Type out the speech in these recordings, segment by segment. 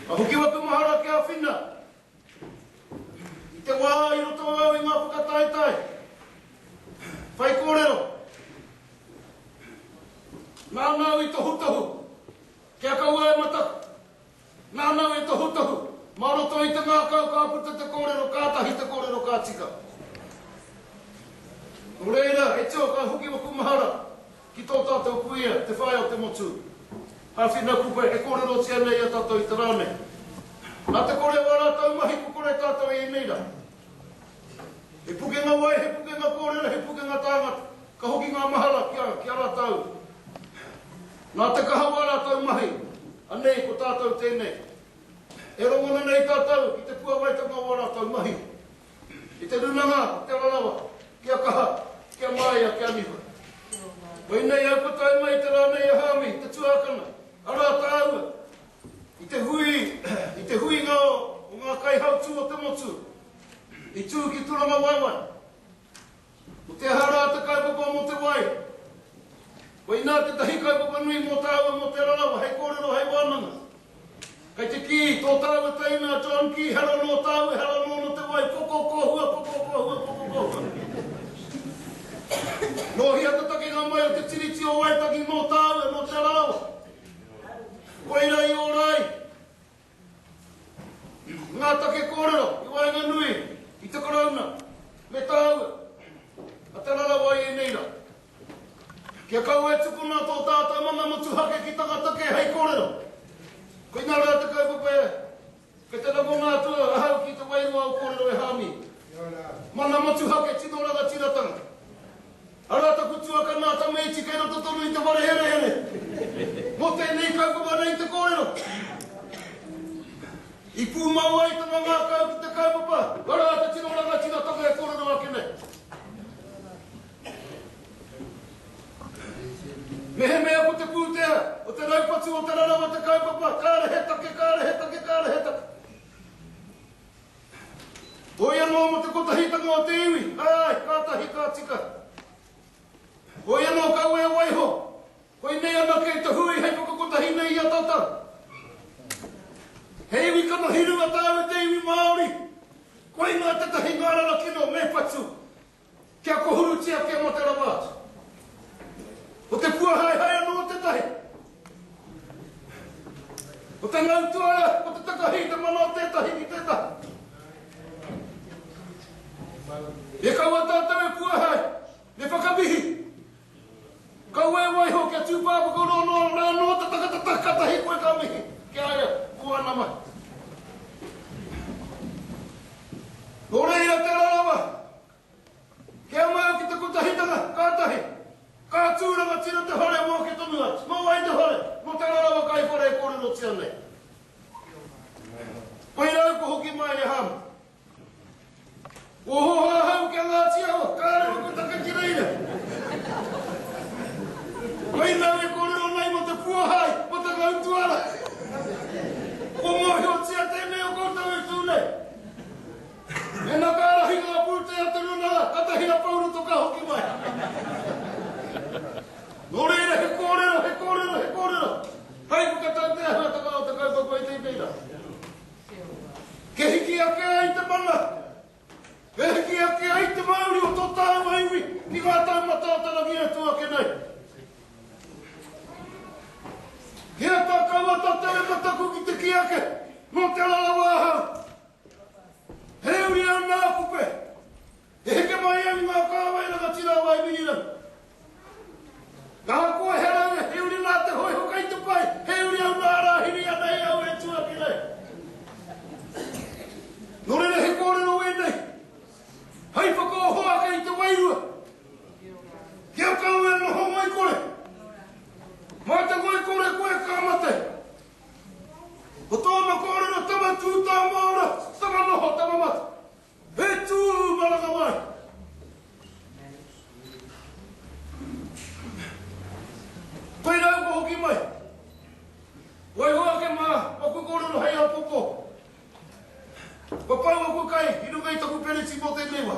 Ka hoki au aku mahara ki a Whina. I te wā i roto au i ngā whakataetae, whaikōrero, nāna au i tohutohu kia kaua e mataku. Nanao e tohutohu, mā roto i te ngākau ka puta te kōrero kātahi te kōrero ka tika. Nō reira, e tio ka hoki waku mahara ki tō tātou kuia, te whaea o te motu. Hāwhina kupe e kōrerotia nei i a tātou i te rā nei. Nā te kore o ā rātou mahi kua kore tātou i ēnei rā. He pukenga wai, he pukenga kōrero, he pukenga tāngata, ka hoki ngā mahara ki a rātou. Nā te kaha o ā rātou mahi, anei ko tātou tēnei. E rongona nei tātou ki te puāwaitanga o ā rātou mahi, i te rūnanga o Te Ararawa, kia kaha, kia māia, kia niwha. Koinei au kua tae mai i te rā nei a Hāmi, te tuākana, arā tāua, i te hui, i te huinga o ngā kaihautū o te motu, i tū ki Turangawaewae. Ko te aha rā te kaupapa mō te wai? Koinā tētahi kaupapa nui mō tāua mō Te Rarawa hei kōrero, hei wānanga. Kei te kī, tō tāua teina a John Key, hara nō tāua, hara nōna te wai, koko kōhua, koko kōhua, koko kōhua. Nō hea te takenga mai o te Tiriti o Waitangi mō tāua, mō Te Rarawa? Koira i ora ai, Ngā take kōrero i waenganui i te Karauna me tāua, a Te Arawa i ēnei rā. Kia kaua e tukuna tō tātou mana motuhake ki tangata kē hei kōrero. Koinā rā te kaupapa e, kei te rangona atu ahau ki te wairua o kōrero e Hāmi. Mana motuhake tino rangatiratanga. Arā taku tuakana ka meiti kei roto tonu i te whare herehere. Mō tēnei kaupapa nei te kōrero. I pūmau ai tana ngākau ki te kaupapa, arā te tino rangatira toka e kōrero ake nei. Mehemea ko te pūtea o te raupatu o Te Rarawa te kaupapa, kāre he take, kāre he take, kāre he take. Hoi anō mō te kotahitanga o te iwi, āe, kātahi ka tika. Hoi anō kaua e waiho, koinei anake te hui hei whakakotahi nei i a tātou. He iwi kanohi runga tāu e te iwi Māori, koinā tētahi ngārara kino me whatu. Kia kohurutia, kia mate rawa atu. Ko te puahaehae anō tētahi. Ko te ngau tuara, ko te takahi i te mana o tētahi ki tētahi. E kaua tātou e puahae, me whakamihi. Kaua e waiho kia tū pāpako noa noa rā nō te tangata tahi ka tahi koe ka mihi ki a ia ko ana mahi. Nō reira tērā rawa kia mau ki te kotahitanga ka tahi ka tū rangatira te whare mō ke tonu atu mō wai te whare mō tērā rawa kai whare e kōrerotia nei koirau kua hoki mai e Hāma. Ohoho ahau ki a Ngāti Awa, kāre hoki taka ki reira. Mai rau e kōrero nei mō te puahae, mō te ngautuara. Kua mōhiotia tēnei o koutou e tū nei. Mēnā ka ārahi ngā pūtea te runa rā, katahi a Pau Roto ka hoki mai. Nō reira, he kōrero, he kōrero, he kōrero. Hai, whakatau te āhuatanga o te kaupapa i tēnei rā. Kia hiki ake ai te mana, kia hiki ake ai te mauri o tō tāua iwi ki ngā taumata o tana whea tū ake nei. Kia tā kaua tō te reka taku ki te ki ake, nō te rarawa ahau. He uri ana a Kupe. He heke mai au i ngā kāwai rangatira o Aimirirau. Ka hakoa he raura, he uri nā te hōiho kai te pai, he uri au nā rāhiri ana e au e tuaki nei. Nō reira he kōrero wēnei, hai whakaoho ake i te wairua. Ki a kau e noho ngoikore, mā te ngoikore koe ka mate. Ko tōna kōrero tama tū tā maora, tama noho, tama mate. He tū marakawai! Koirā kua hoki mai. Waiho ake mā, aku kōrero hei āpoko. Kua pau aku kai i runga i taku peneti mō tēnei wā.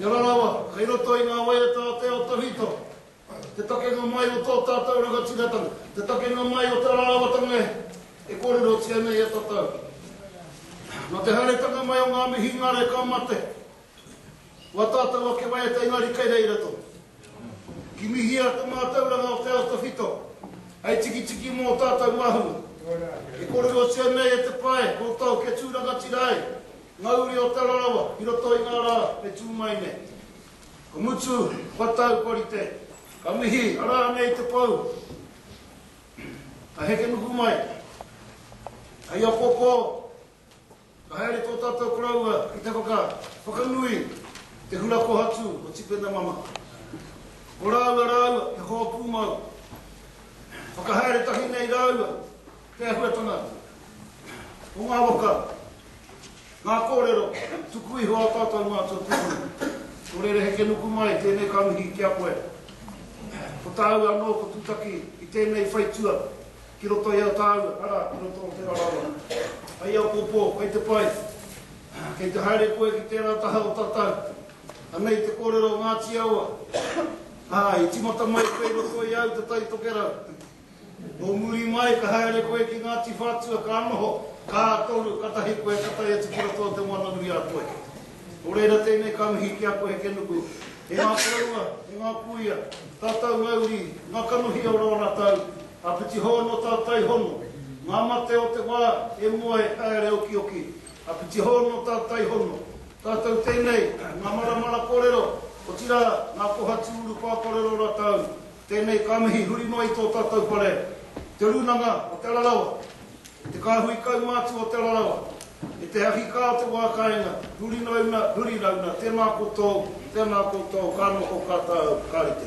Te ara rawa, kei roto i ngā waiata o te ao tawhito, te takenga mai o tō tātou rangatiratanga, te takenga mai o te ararawatanga e, e kōrerotia nei e tatau. Nō te haeretanga mai o ngā mihingare ka mate, ko a tātou ake waiata engari kei reira tonu. Kimihia te mātauranga o te ao tawhito, hei tikitiki mō tātou mahunga. E kōrerotia nei e te pae, ko tau kia tū rangatira ai, Ngā uri o Tara Rawa i roto i ngā rā e tū mai nei. Ka mutu, kua taupari te. Ka mihi, arā nei te pou. Ka heke nuku mai. Hei apopō, ka haere tō tātou koroua ki te whaka, whakanui te hura kohatu o Tipena Mama. Ko rāua rāua he hoa pūmau. Whakahaere tahi nei rāua Te āhuatanga o ngā waka, ngā kōrero tuku iho a tātou mātua tūpuna. Nō reira he kenuku mai tēnei ka mihi ki a koe. Ko tāu anō ko tūtaki i tēnei whaitua ki roto i a tāu, arā, ki roto o Te Rarawa. Hei apōpō, kei te pai, kei te haere koe ki tērā taha o tatau. Anei te kōrero o Ngāti Awa, ā, i tīmata mai koe i roto i au te Tai Tokerau. Nō muri mai ka haere koe ki Ngāti Whātua ka noho kā toru katahi koe ka tae atu ki roto o Te Moana-nui-a-Toi. Nō reira tēnei ka mihi ki a koe he kenuku, e ngā koroua, e ngā kūia, tātau mauri, ngā kanohi o rō rātau āpiti hou nō tāu taihono, ngā mate o te wā e moe haere okioki āpiti hou nō tāu taihono, tātau tēnei, ngā maramara kōrero, otirā ngā kohatu urupā kōrero rātau Tēnei ka mihi huri noa i tō tātou whare, Te Rūnanga o Te Rarawa, Te Kāhui Kaumātua o Te Rarawa, e te ahi kā o te wā kāinga, huri rauna, huri rauna, tēnā koutou, tēnā koutou, ka noho, ka tāu, ka rite.